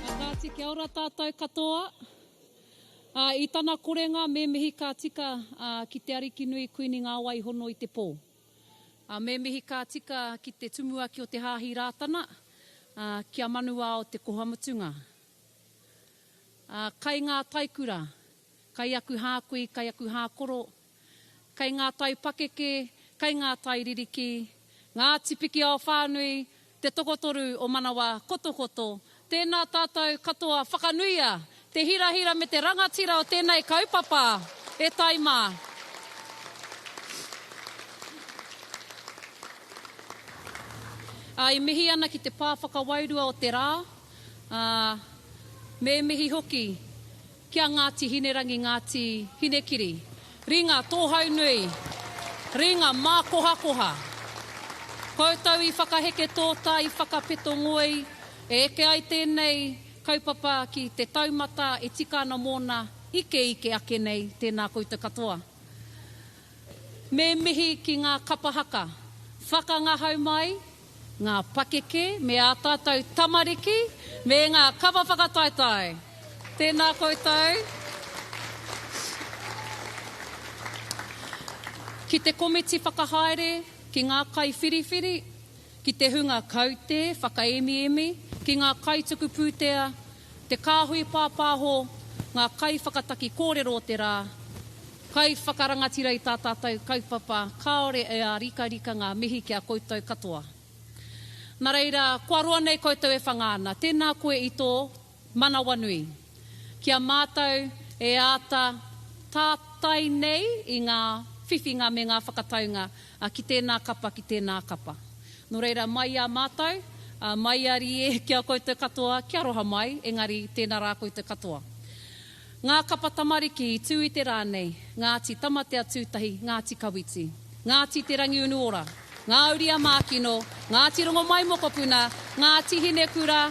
A Kāti kia ora tātou katoa. A, i tana korenga me mihi ka tika a, ki te Ariki nui Kuini Ngāwai hono i te pō. A, me mihi ka tika ki te Tumuaki o te Hāhi Rātana, a, ki a Manuao te koha mutunga. A, kai ngā taikura, kai aku hākui, kai aku hākoro, Kei ngā tai pakeke, kei ngā tai ririki, ngā tipiki ao whānui, te tokotoru o manawa kotokoto, tēnā tātou katoa whakanuia te hirahira me te rangatira o tēnei kaupapa e tae mā. Ā, e mihi ana ki te pā whakawairua o te rā, ā, me mihi hoki Ki a Ngāti Hinerangi Ngāti Hinekiri, ringa tōhaunui, ringa mākohakoha. Koutou i whakaheke tōtā, i whakapeto ngoi, e eke ai tēnei kaupapa ki te taumata e tika ana mōna ikeike ake nei, tēnā koutou katoa. Me mihi ki ngā kapa haka, whakangahau mai, ngā pakeke me ā tātou tamariki, me ngā kawa whakataetae. Tēnā koutou. Ki te komiti whakahaere, ki ngā kaiwhiriwhiri, ki te hunga kaute whakaemiemi, ki ngā kaituku pūtea, Te kāhui pāpāho, ngā kaiwhakataki kōrero o te rā, kaiwhakarangatira i tā tātou kaupapa, kāore e ārikarika ngā mihi ki a koutou katoa. Nā reira, kua roa nei koutou e whanga ana, tēnā koe i tō manawanui. Ki a mātou e āta tātai nei i ngā whiwhinga me ngā whakataunga, A ki tēnā kapa, ki tēnā kapa. Nō reira, mai i a mātou, ā, mai i a Rīē ki a koutou katoa, kia roha mai, engari, tēnā rā koutou katoa. Ngā kapa tamariki i tū i te rā nei, Ngāti Tamatea-tū-tahi, Ngāti Kawiti, Ngāti Te Rangiunuora, Ngā Uri-a-Mākino, Ngāti Rongomaimokopuna, Ngāti Hinekura,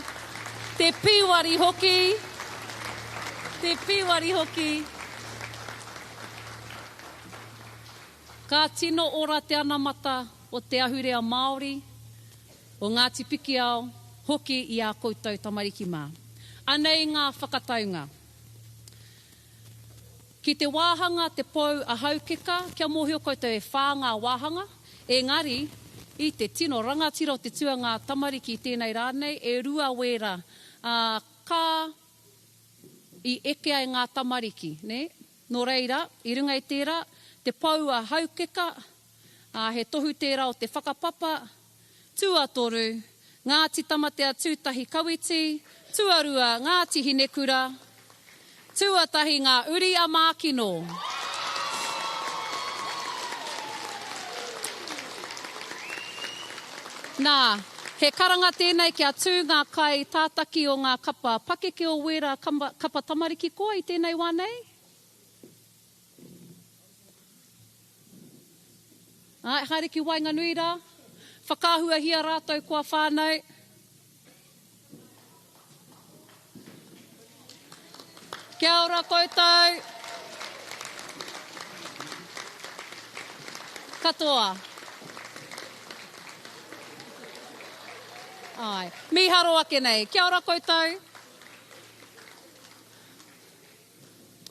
Te Pīwari hoki, Te Pīwari hoki. Ka tino ora te anamata o te ahurea Māori, o Ngāti Pikiao hoki i ā koutou tamariki mā. Anei ngā whakataunga. Ki te wāhanga te pou a Haukeka, kia mōhio koutou e whā ngā wāhanga, engari i te tino rangatira o te tuangā tamariki tēnei rā nei, e rua wēra, ā, ka i eke ai ngā tamariki, nē? Nō reira, i runga i tērā, te pou a Haukeka, ā, he tohu tērā o te whakapapa, tuatoru, Ngāti Tamatea Tūtahi Kawiti, tuarua, Ngāti Hinekura, tuatahi, ngā uri a Mākino. Nā. He karanga tēnei kia tū ngā kai tātaki o ngā kapa pakeke o wērā kapa tamariki koa i tēnei wā nei. Āe, haere ki waenganui rā. Whakaahuahia rātou kua whānau. Kia ora koutou. Katoa. Ai. Mīharo ake nei. Kia ora koutou.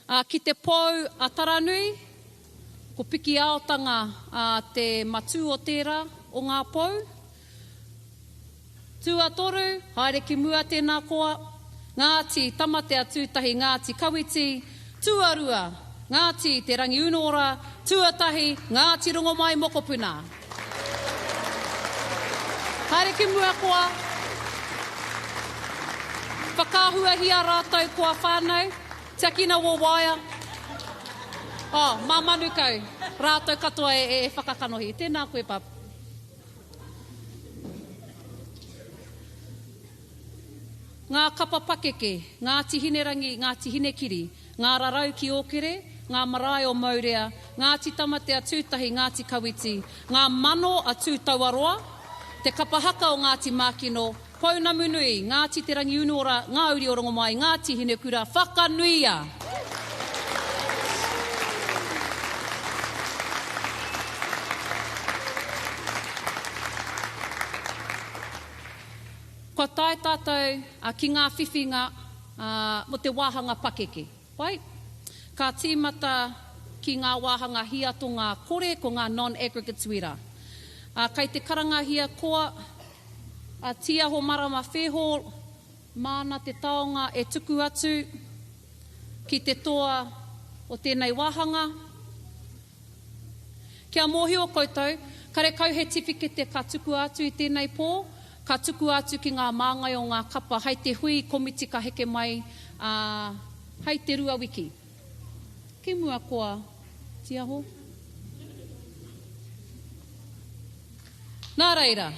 Ā, ki te pou a Taranui, ko Pikiaotanga te matū o tērā o ngā pou. Tuatoru, haere ki mua tēnā koa. Ngāti Tamatea tūtahi, Ngāti Kawiti tuarua, Ngāti Te Rangiunuora tuatahi, Ngāti Rongomai mokopuna. Haere ki mua koa Whakaahuahia ratou koa whanau Tiakina wo waea Oh, ma Manukau Ratou katoa e e whakakanohi Tena koe bub Nga kapa pakeke Ngati Hinerangi Ngati Hinekiri Ngā rarau ki Ōkere, ngā marae o Mourea, Ngāti Tamatea Tūtahi, Ngāti Kawiti, ngā mano a Tūtauaroa, te kapa haka o Ngāti Mākino, Pounamu Nui, Ngāti Te Rangiunuora, ngā uri o Rongomai, Ngāti Hinekura, Whakanuia! Kua tae tātou ki ngā whiwhinga ā, mō te wāhanga pakeke. Wai? Ka tīmata ki ngā wāhanga hiatonga kore ko ngā non-aggregates wera, ā, kei te karangahia koa, a Tīaho Marama Fairhall, māna te taonga e tuku atu ki te toa o tēnei wāhanga. Kia mōhio koutou, karekau he tiwhikete ka tukua atu i tēnei pō, ka tukua atu ki ngā māngai o ngā kapa hai te hui komiti ka heke mai hai te rua wiki ki mua kua tiaho. Nā reira,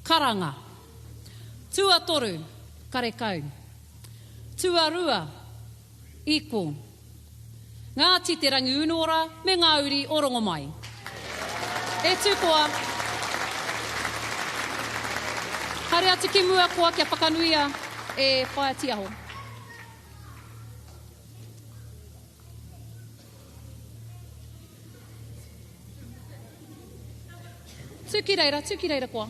karanga. Tuatoru, karekau. Tuarua, Iko. Ngāti Te Rangiunuora me ngā uri o Rongomai. E Tūkoa, haere atu ki mua koa kia whakanuia e Whaea Tiaho. Tū ki reira, tū ki reira koa.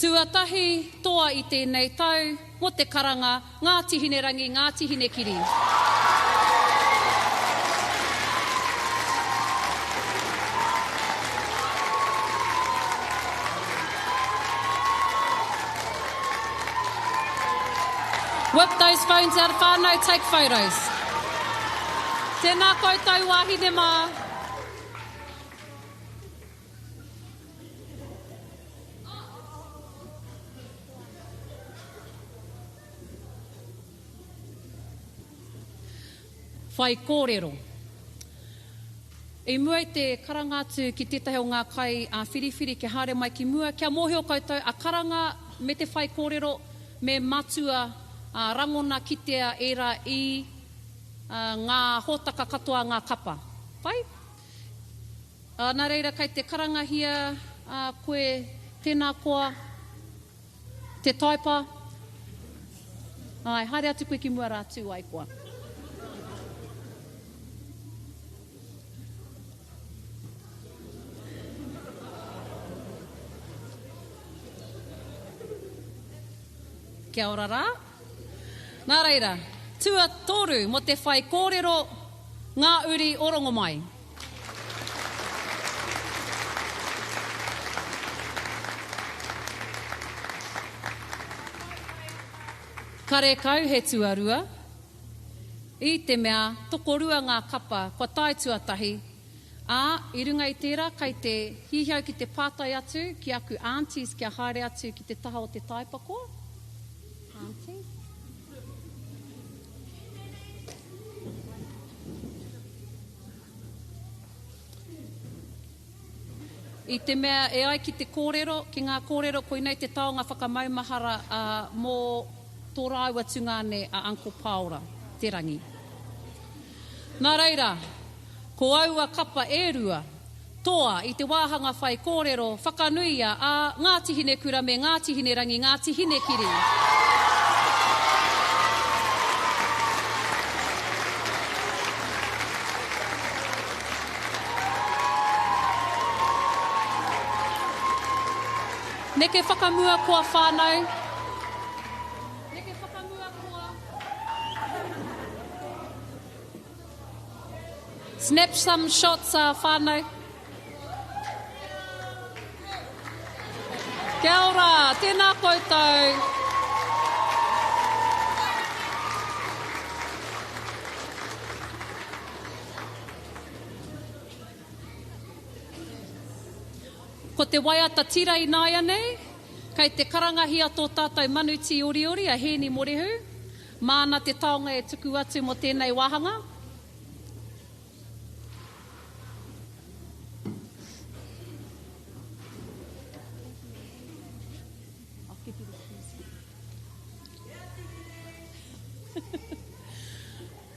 Tuatahi toa i tēnei tau mō te karanga Ngāti Hinerangi, Ngāti Hinekiri. Whip those phones out of whānau, take photos. Tēnā koutou wāhine mā. Whaikōrero. I mua i te karanga atu ki tētahi o ngā kai a Whiriwhiri kia haere mai ki mua, kia mōhio koutou a karanga me te whaikōrero me matua rangona kitea ērā i ngā hōtaka katoa ngā kapa. Pai? Ā, nā reira kei te karangahia koe tēnā koa te taepa, āe, haere atu koe ki mua rā, tū ai koa. Kia ora rā. Nā reira, tuatoru mō te whaikōrero Ngā Uri o Rongomai. Karekau he tuarua, i te mea tokorua ngā kapa kua tae tuatahi Ā, i runga i tērā kai te hihi au ki te pātai atu ki aku aunties kia haere atu ki te taha o te taipako, Aunty? I te mea e ai ki te kōrero, ki ngā kōrero koinei te taonga whakamaumahara ā mō tō rāua tungāne a Uncle Pāora, Te Rangi. Nā reira, Ko aua kapa e rua, toa i te wāhanga whaikōrero whakanuia a Ngāti Hinekura me Ngāti Hinerangi, Ngāti Hinekiri. Neke whakamua koa whānau, neke whakamua koa. Snap some shots a whanau. Kia ora, tēnā koutou. Ko te waiata tira ināianei, kei te karangahia tō tātou manu tīoriori a Hēni Morehu, Māna te taonga e tuku atu mō tēnei wāhanga.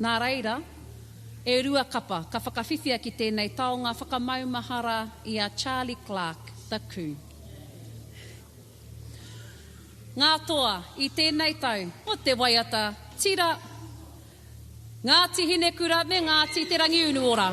Nā reira, e rua kapa ka whakawhiwhia ki tēnei taonga whakamaumahara i a Charlie Clark, The Coup. Ngā toa i tēnei tau, ko te waiata tira, Ngāti Hinekura me Ngāti Te Rangiunuora.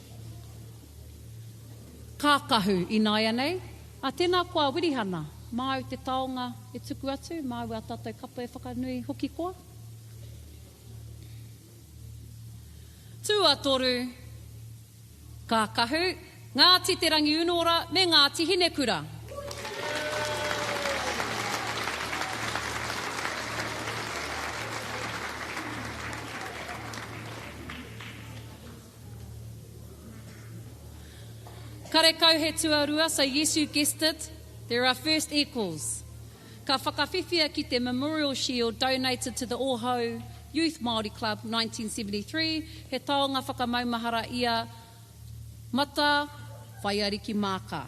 Kākahu, Ināianei, ā, tēnā koa Wirihana, māu te taonga e tuku atu, māu ā tātou kapa e whakanui hoki koa. Tuatoru, Kākahu, Ngāti Te Rangiunuora me Ngāti Hinekura. Karekau he tuarua so yes you guessed it, there are first equals. Ka whakawhiwhia ki te Memorial Shield donated to the Ohau Youth Māori Club 1973, he taonga whakamaumahara ia Mata Whaiariki Maaka.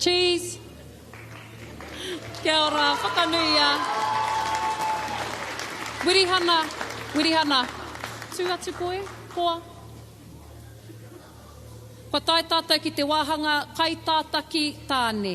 Cheese. Kia ora, whakanuia. Wirihana, Wirihana. Tū atu koe, koa. Kua tae tātou ki te wāhanga kaitātaki tāne.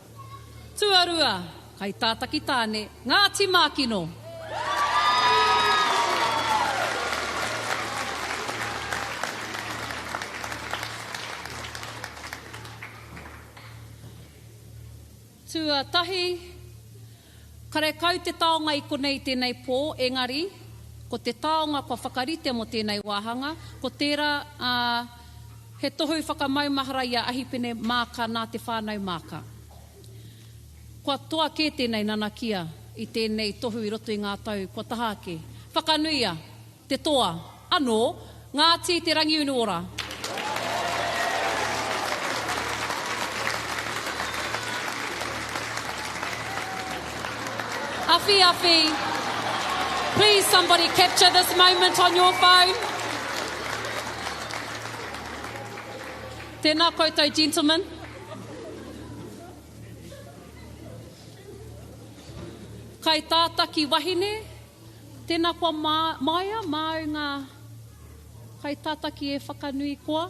Tuarua, Kai Tātaki Tāne, Ngāti Mākino. Tuatahi. Karekau te taonga i konei tēnei pō, engari, ko te taonga kua whakarite mō tēnei wāhanga, ko tērā, ā, he tohu whakamaumahara i a Ahipene Māka nā te whānau Māka. Kua toa kē tēnei nanakia i tēnei tohu i roto i ngā tau kua taha ake. Whakanuia! Te toa. Anō. Ngāti Te Rangiunuora. Awhi awhi Please somebody capture this moment on your phone Tēnā koutou gentlemen Kai tātaki wahine Tena kua maea māu ngā kaitataki e whakanui koa.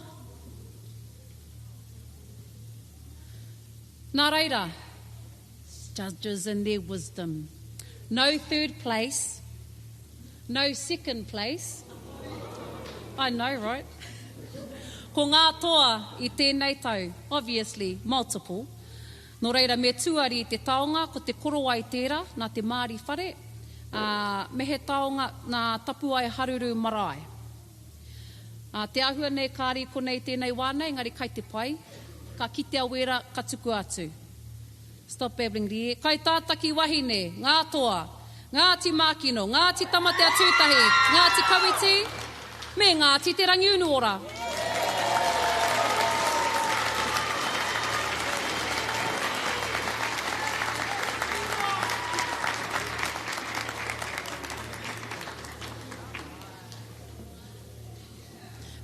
Nā reira, judges and their wisdom. No third place, no second place. I know right? Ko ngā toa i tēnei tau, obviously, multiple. Nō reira, me tuari i te taonga, ko te korowai tērā, nā te Māori whare, ā, me he taonga nā Tapuae Haruru marae. Ā, te āhua nei kāre i konei i tēnei wā nei, engari kai te pai, ka kitea wēra ka tukua atu. Stop babbling, Rie. Kai tā Takiwahine, ngā toa. Ngāti Mākino, Ngāti Tamateatūtahi, Ngāti Kawiti me Ngāti Te Rangiunuora.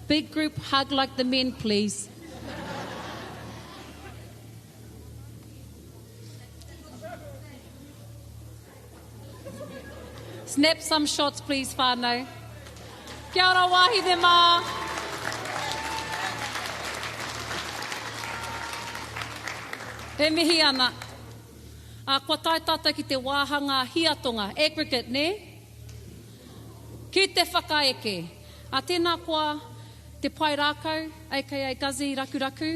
Big group hug like the men please. Snap some shots, please, whānau. Kia ora, wāhine mā. E mihi ana. A, kua tae tātou ki te wāhanga hiatonga, aggregate, ne? Ki te whakaeke. A, tēnā koa te pae rākau, aka Guzzy Rakuraku.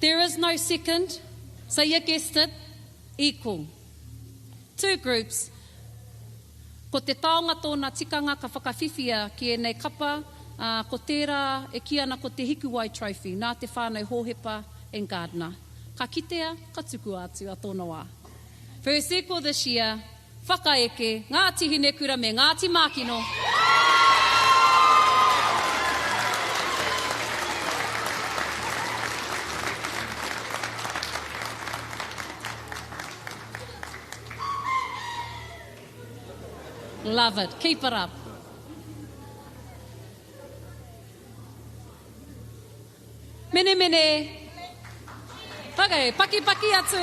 There is no second, so you guessed it, equal. Two groups, ko te taonga tōna tikanga ka whakawhiwhia ki ēnei kapa, ā, ko tērā e kī ana ko te Hikuwai Trophy, nā te whānau Hōhepa and Gardiner. Ka kitea, ka tukua atu a tōna wā. First equal this year, Whakaeke, Ngāti Hinekura me Ngāti Mākino. Love it. Keep it up. Menemene. Ok, pakipaki atu.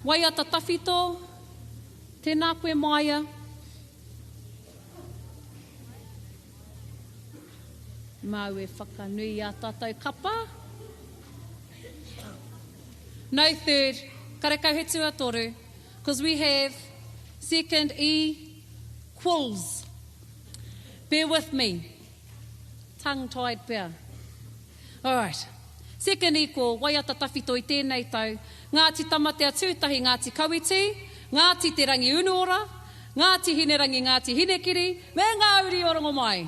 Waiata tawhito, tēnā koe māia. Māu e whakanui i ā tātou kapa. No third, karekau he tuatoru. Cause we have second e quals. Bear with me. Tongue tied pea. Alright. Second e qual, waiata tawhito i tēnei tau, Ngāti Tamatea Tūtahi, Ngāti Kawiti, Ngāti Te Rangiunuora, Ngāti Hinerangi, Ngāti Hinekiri, me ngā uri o Rongomai.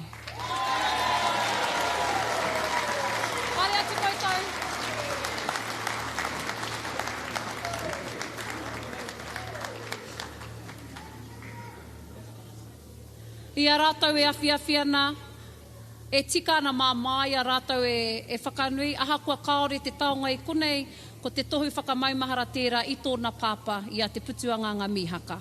Haere atu koutou. I a rātou e awhiawhi ana, e tika ana mā māia rātou e e whakanui, ahakoa kāore te taonga i konei, ko te tohu whakamaumahara tērā i tōna pāpā, i a Te Putuanganga Mīhaka.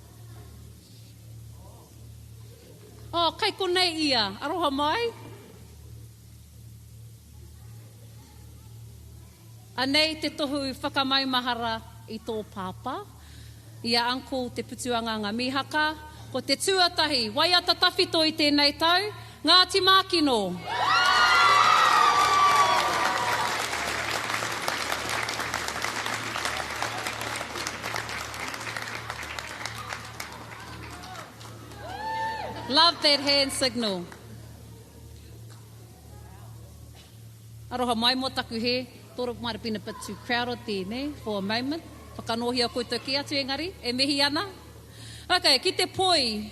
Oh, kai konei ia. Aroha mai. Anei te tohu whakamaumahara i tō pāpā, i a Uncle Te Putuanganga Mihaka. Ko te tuatahi, waiata tawhito i tēnei tau, Ngāti Mākino. Love that hand signal. Aroha mai mo taku he, thought it might have been a bit too crowded there, ne, for a moment. Whakanōhia koutou kē atu engari, e mihi ana. Okay, ki te poi.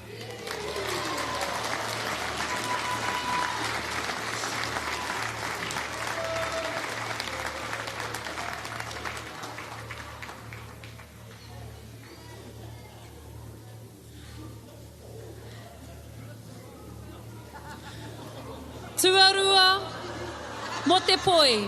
Tuarua mo te poi.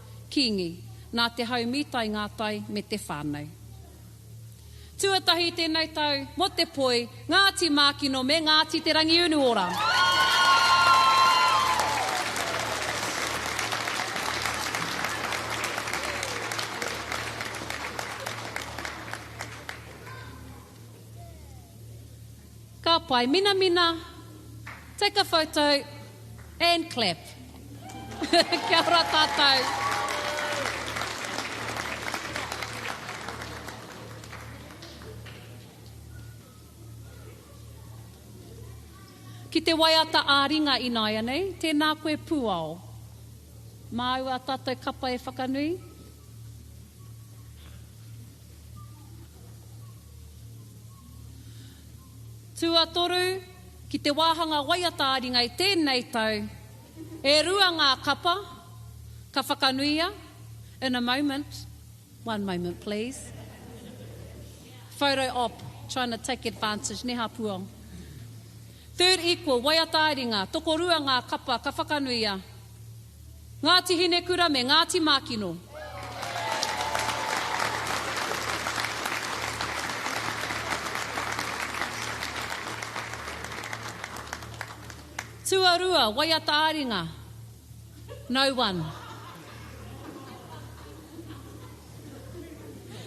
Kīngi, nā te hau mītai ngā tai me te whānau. Tuatahi tēnei tau mō te poi, Ngāti Mākino me Ngāti Te Rangiunuora. Ka pai minamina Take a photo and clap Kia ora tātou Ki te waiata ā-ringa ināianei Tēnā koe Pūao Māu ā tātou kapa e whakanui. Tuatoru, ki te wāhanga waiata ā-ringa i tēnei tau, e rua ngā kapa ka whakanuia, in a moment, one moment please, photo op, trying to take advantage, nē Hāpuao? Third equal, waiata ā-ringa, tokorua ngā kapa ka whakanuia, Ngāti Hinekura me Ngāti Mākino. Tuarua, waiata ā-ringa, No. 1.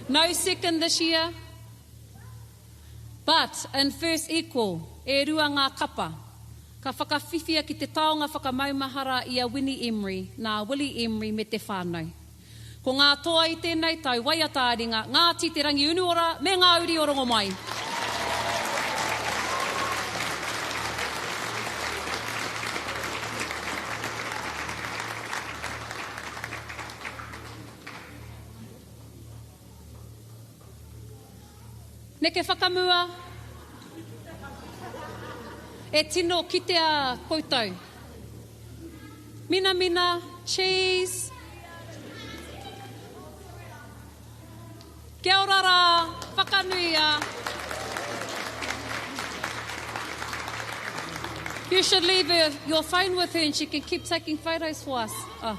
No second this year. But, in first equal, e rua ngā kapa. Ka whakawhiwhia ki te taonga whakamaumahara i a Winnie Emery nā Willie Emery me te whānau. Ko ngā toa i tēnei tau, waiata a ringa, Ngāti Te Rangiunuora me ngā uri o Rongomai. Neke whakamua E tino kitea koutou Minamina Cheese Kia ora rā Whakanuia You should leave your phone with her and she can keep taking photos for us. Oh.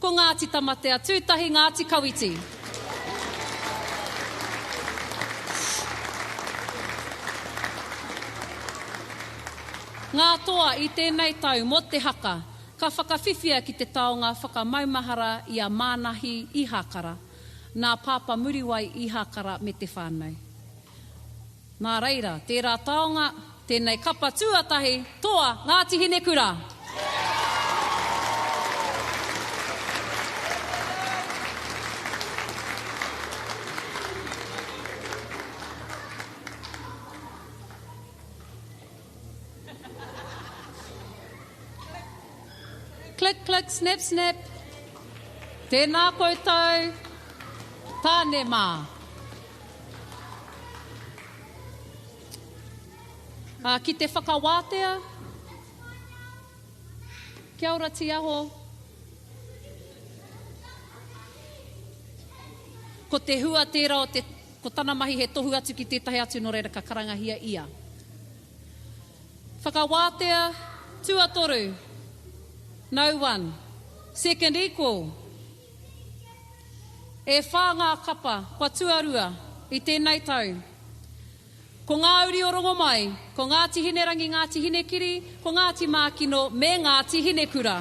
Ko Ngāti Tamatea Tūtahi Ngāti Kawiti. Ngā toa i tēnei tau mō te haka ka whakawhiwhia ki te taonga whakamaumahara i a Mānahi Ihakara, nā Pāpa Muriwai Ihakara me te whānau. Nā reira, tērā taonga, tēnei kapa tuatahi, toa Ngāti Hinekura! Click click snap snap Tēnā koutou Tāne mā. Ā, ki te whakawātea. Kia ora, Tiaho. Ko te hua tērā o te, ko tana mahi he tohu atu ki tētahi atu, nō reira ka karangahia ia. Whakawātea, tuatoru. No one. Second equal. E whā ngā kapa kua tuarua i tēnei tau. Ko ngā uri o Rongomai, ko Ngāti Hinerangi, Ngāti Hinekiri, ko Ngāti Mākino me Ngāti Hinekura.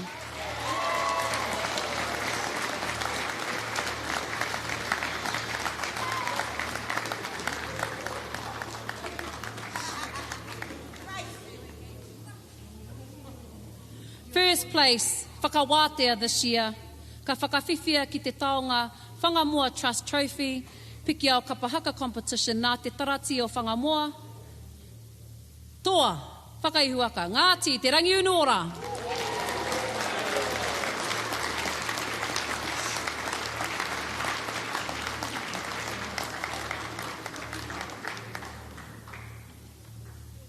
First place, Whakawātea this year, ka whakawhiwhia ki te taonga Whangamoa Trust Trophy, Pikiao Kapa Haka Competition nā te Taratī o Whangamoa, Toa, Whakaihuaka, Ngāti Te Rangiunuora.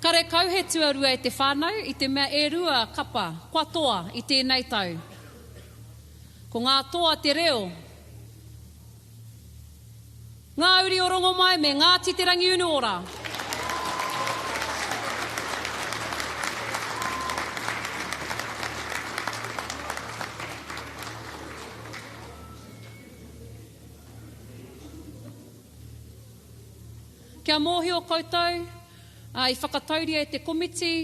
Karekau he tuarua e te whānau i te mea e rua kapa kua toa i tēnei tau. Ko ngā toa te reo, ngā uri o Rongomai me Ngāti Te Rangiunuora. Kia mōhio koutou, i whakatauria e te komiti,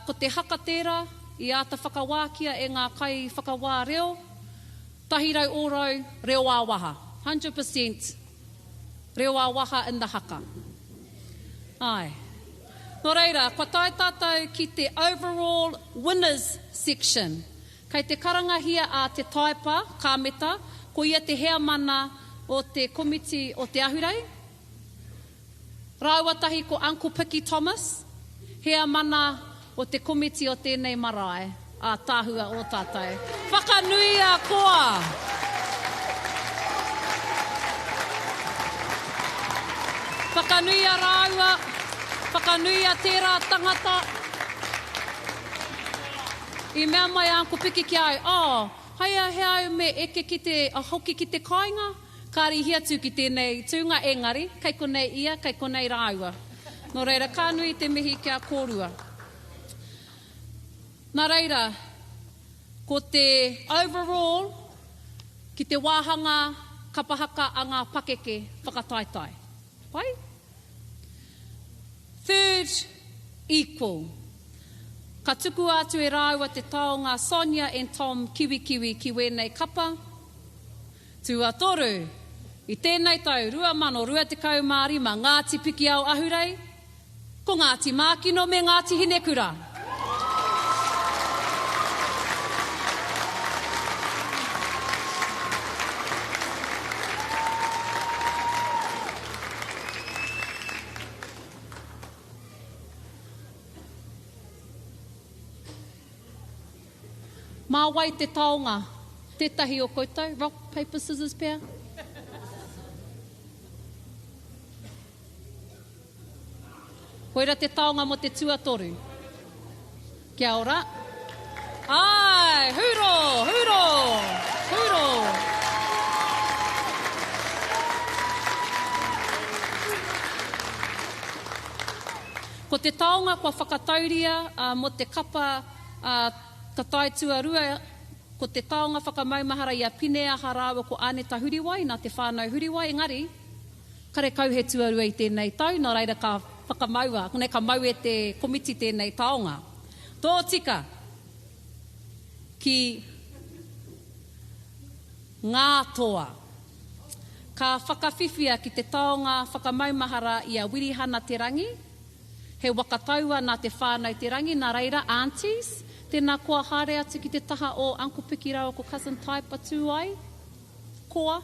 ko te haka tērā i āta whakawākia e ngā kaiwhakawā reo, 100 ōrau reo ā-waha, 100 per cent reo ā-waha in the haka. Āe. Nō reira, kua tae tātou ki te overall winners section. Kei te karangahia a Te Taepa Kāmeta, ko ia te heamana o te komiti o Te Ahurei, rāua tahi ko Uncle Piki Thomas, heamana o te komiti o tēnei marae ātaahua o tātou. Whakanuia koa! Whakanuia rāua, whakanuia tērā tangata. I mea mai a Uncle Piki ki a au, Oh, hai a he au me eke ki te, a hoki ki te kāinga? Ka rīhi atu ki tēnei tūnga engari, kei konei ia, kei konei rāua. Nō reira, ka nui te mihi ki a kōrua. Nā reira, ko te overall ki te wāhanga kapa haka a ngā pakeke whakataetae. Pai? Third equal. Ka tukua atu e rāua te taonga Sonia and Tom Kiwikiwi ki wēnei kapa. Tuatoru, i tēnei tau 2025 Ngāti Pikiao Ahurei, Ko Ngāti Mākino me Ngāti Hinekura. Mā wai te taonga? Tētahi o koutou? Rock, paper, scissors pea? Koira te taonga mo te tuatoru. Kia ora. Ae! Huro! Huro! Huro! Ko te taonga kua whakatauria mo te kapa a Ta Tai Tuarua ko te taonga whakamaumahara i a Pineaha raua ko Aneta Huriwai na te whanau Huriwai engari Karekau he tuarua i tēnei tau, nō reira ka whakamaua, nei ka mau e te komiti tēnei taonga. Tōtika ki ngā toa. Ka whakawhiwhia ki te taonga whakamaumahara i a Wirihana Te Rangi, he waka taua nā te whānau Te Rangi, nā reira, Aunties, tēnā koa haere atu ki te taha o Uncle Piki rāua ko Cousin Taipa tū ai. Koa.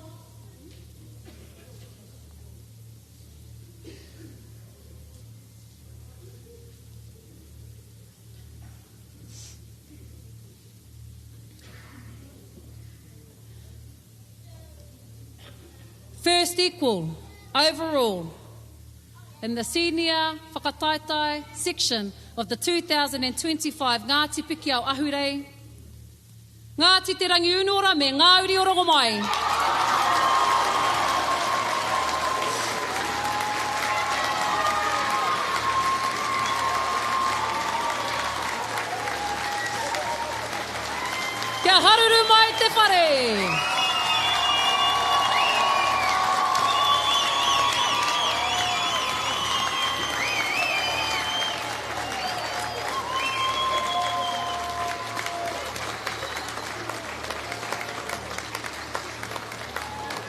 First equal, overall, in the senior whakataetae section of the 2025 Ngāti Pikiao Ahurei. Ngāti Te Rangiunuora me ngā uri o Rongomai. Kia haruru mai te whare!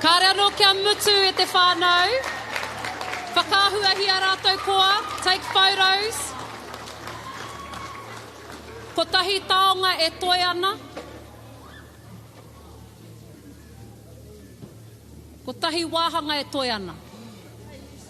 Kāre anō kia mutu e te whānau. Whakaahuahia rātou koa, take photos. Kotahi taonga e toe ana. Kotahi wāhanga e toe ana.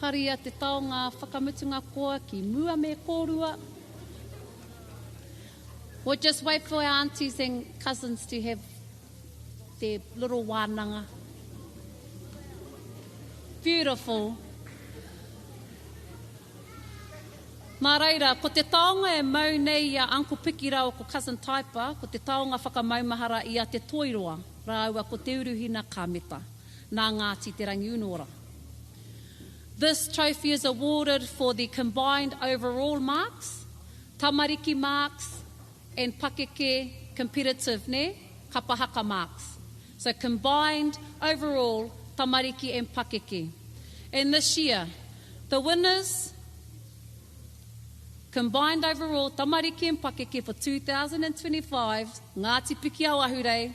Haria te taonga whakamutunga koa ki mua me korua. We'll just wait for our aunties and cousins to have their little wānanga. Beautiful. Nā reira, ko te taonga e mau nei i a Uncle Piki rāua ko Cousin Taipa, ko te taonga whakamaumahara i a Te Toiroa rāua ko Te Uruhina Kāmeta. nā Ngāti Te Rangiunuora. This trophy is awarded for the combined overall marks, tamariki marks and pakeke, competitive, nē, kapa haka marks. So combined, overall, tamariki and pakeke. And this year, the winners, combined overall, tamariki and pakeke for 2025, Ngāti Pikiao Ahurei,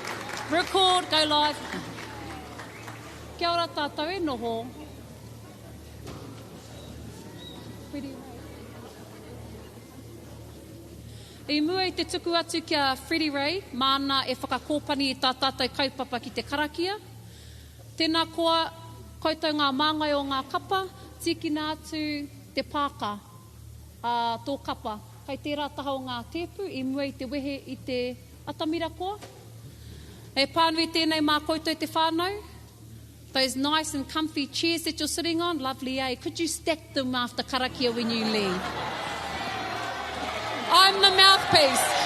Record, go live. Kia ora tātou e noho. I mua i te tuku atu ki a Freddie Ray, māna e whakakōpani i tā tātou kaupapa ki te karakia. Tēnā koa koutou ngā māngai o ngā kapa, tīkina atu te pāka a tō kapa. Kai tērā taha o ngā tēpu i mua i te wehe i te. Atamira Ko. He pānui tēnei mā koutou te whānau. Those nice and comfy chairs that you're sitting on, lovely eh? Could you stack them after karakia when you leave? I'm the mouthpiece.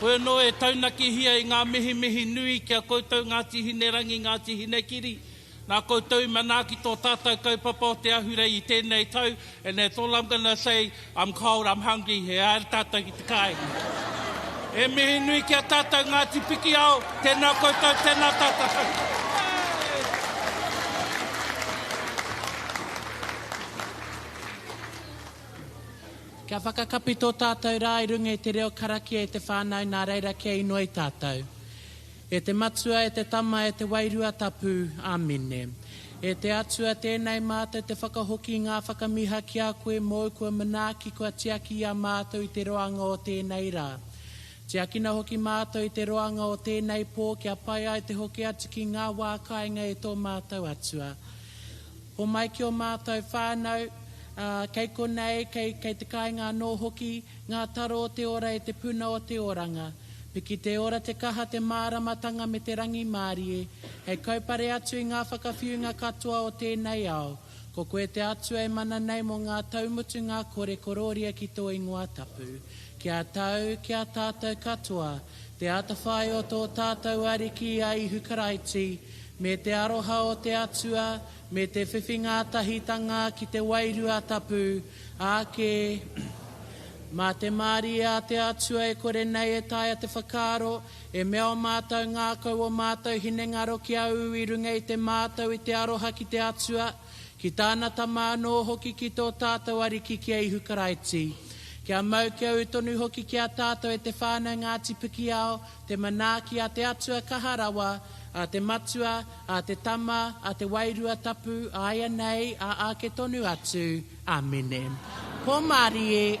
Koe anō e taunakihia i ngā mihimihi nui ki a koutou Ngāti Hinerangi, Ngāti Hinekiri. Nā koutou i manaaki tō tātau kaupapa o te ahurei i tēnei tau and that's all I'm gonna say, I'm cold, I'm hungry, e haere tātau ki te kāinga. E mihi nui ki a tātau Ngāti Pikiao, tēnā koutou, tēnā tātau. Kia whakakapi tō tātou rā i runga i te reo karakia i te whānau nā reira kia inoi i tātou. E te Matua, e te Tama, e te Wairua Tapu. Āmine. E te Atua, tēnei mātou te whakahoki i ngā whakamiha ki a koe mōu kua manaaki kua tiaki i a mātou i te roanga o tēnei rā. Tiakina hoki mātou i te roanga o tēnei pō kia pai ai te hoki atu ki ngā wā kāinga e tō mātou Atua. Homai ki ō mātou whānau, ā, kei konei, kei, kei te kāinga anō hoki, ngā taro o te ora e te puna o te oranga. Piki te ora, te kaha, te māramatanga me te rangimārie, hei kaupare atu i ngā whakawhiunga katoa o tēnei ao. Ko koe te Atua e mana nei mō ngā tau mutunga kore korōria ki tō ingoa tapu. Ki a tau, ki a tātou katoa, Te atawhai o tō tātou Ariki a Ihu Karaiti, me te aroha o te Atua, me te whiwhi ngātahitanga ki te Wairua Tapu, āke, Mā te mārie a te Atua e kore nei e taea te whakaaro, e mea o mātou ngākau o mātou hinengaro ki a Ū i runga i te mātau i te aroha ki te Atua, ki Tāna Tama anō hoki ki tō tātou Ariki ki a Ihu Karaiti, kia mau kia ū tonu hoki ki a tātou e te whānau Ngāti Pikiao te manaaki a te Atua Kaha Rawa, a te Matua, a te Tama, a te Wairua Tapu, āianei, ā āke tonu atu. Āmine. Ko Marie.